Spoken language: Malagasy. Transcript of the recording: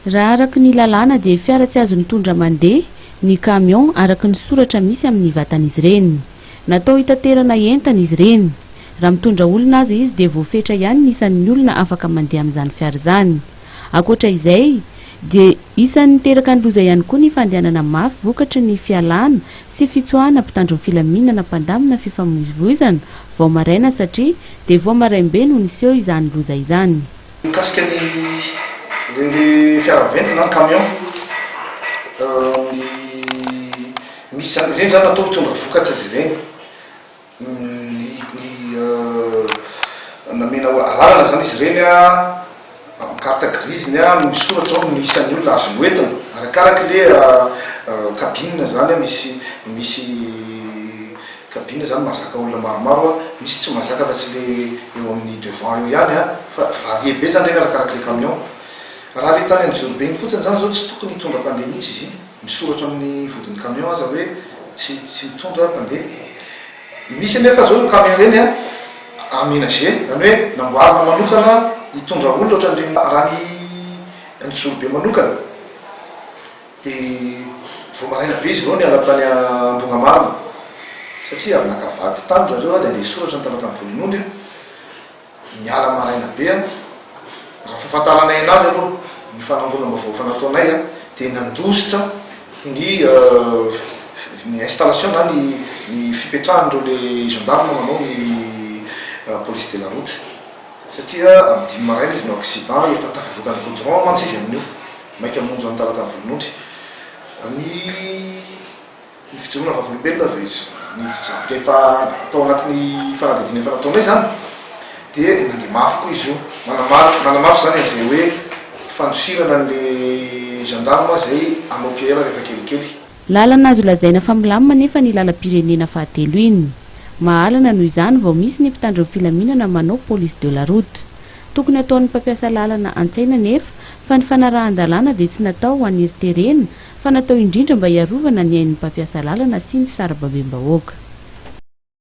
Raha araka ny lalàna dia fiara tsy azo mitondra mandeha ny camion araka ny soratra misy amin'ny vatan'izy ireny. Natao hitaterana entana izy ireny. Raha mitondra olona aza izy dia voafetra ihany ny isan'ny olona afaka mandeha amin'izany fiara izany. Ankoatra izay dia isan'ny niteraka ny loza ihany koa ny fandehanana mafy vokatry ny fialana sy fitsoahana mpitandro ny filaminana mpandamina fifamoivoizana vao maraina satria dia vao maraim-be no niseho izany loza izany. Mikasika ny le fiara miventy na camion, misy zany ireny zany atao hitondra vokatra izy ireny, namena alalana zany izy ireny amin'ny carte grise-ny misoratra ao ny isan'ny olona azony hoentina arakaraky le cabine zany misy misy. Kabine zany mazaka olona maromaro a, misy tsy mazaka fa tsy le eo amin'ny devant eo ihany a, fa varie be zany reny arakaraky le camion. Raha le tany Anjorobe iny fotsiny zany zao tsy tokony hitondra mpandeha mihitsy izy iny, misoratra amin'ny vodin'ny camion aza hoe tsy tsy mitondra mpandeha. Misy anefa zao io camion ireny a aménagé, zany hoe namboarina manokana hitondra olona ohatran'ireny rany Anjorobe manokana. Dia vao maraina be izy ireo niala tany Ambohimamarina, satria avy naka vady tany ry zareo, dia handeha hisoratra ny talatany Volonondry, niala maraina be, raha fahafantaranay an'azy aloha, ny fanangonam-baovao efa nataonay, dia nandositra ny ny installation na ny ny fipetrahan'ireo le gendarme manao ny police de la route, satria amin'ny dimy maraina izy no accident, efa tafavoaka ny goudron mantsy izy amin'io. Maika monja ny talata ny volonondry. Ny ny fijoroana vavolombelona ve izy ny zavatra efa tao anatin'ny fanadihadiana efa nataonay izany dia mandeha mafy koa izy io. Manamafy manamafy izany an'izay hoe fandosirana an'ilay gendarme izay hanao PR rehefa kelikely. Lalana azo lazaina fa milamina anefa ny lalam-pirenena fahatelo iny. Mahalana noho izany vao misy ny mpitandro ny filaminana manao police de la route. Tokony ataon'ny mpampiasa lalana an-tsaina anefa fa ny fanarahan-dalàna dia tsy natao ho an'ny herin-terena fa natao indrindra mba hiarovana ny ain'ny mpampiasa lalana sy ny sarababem-bahoaka.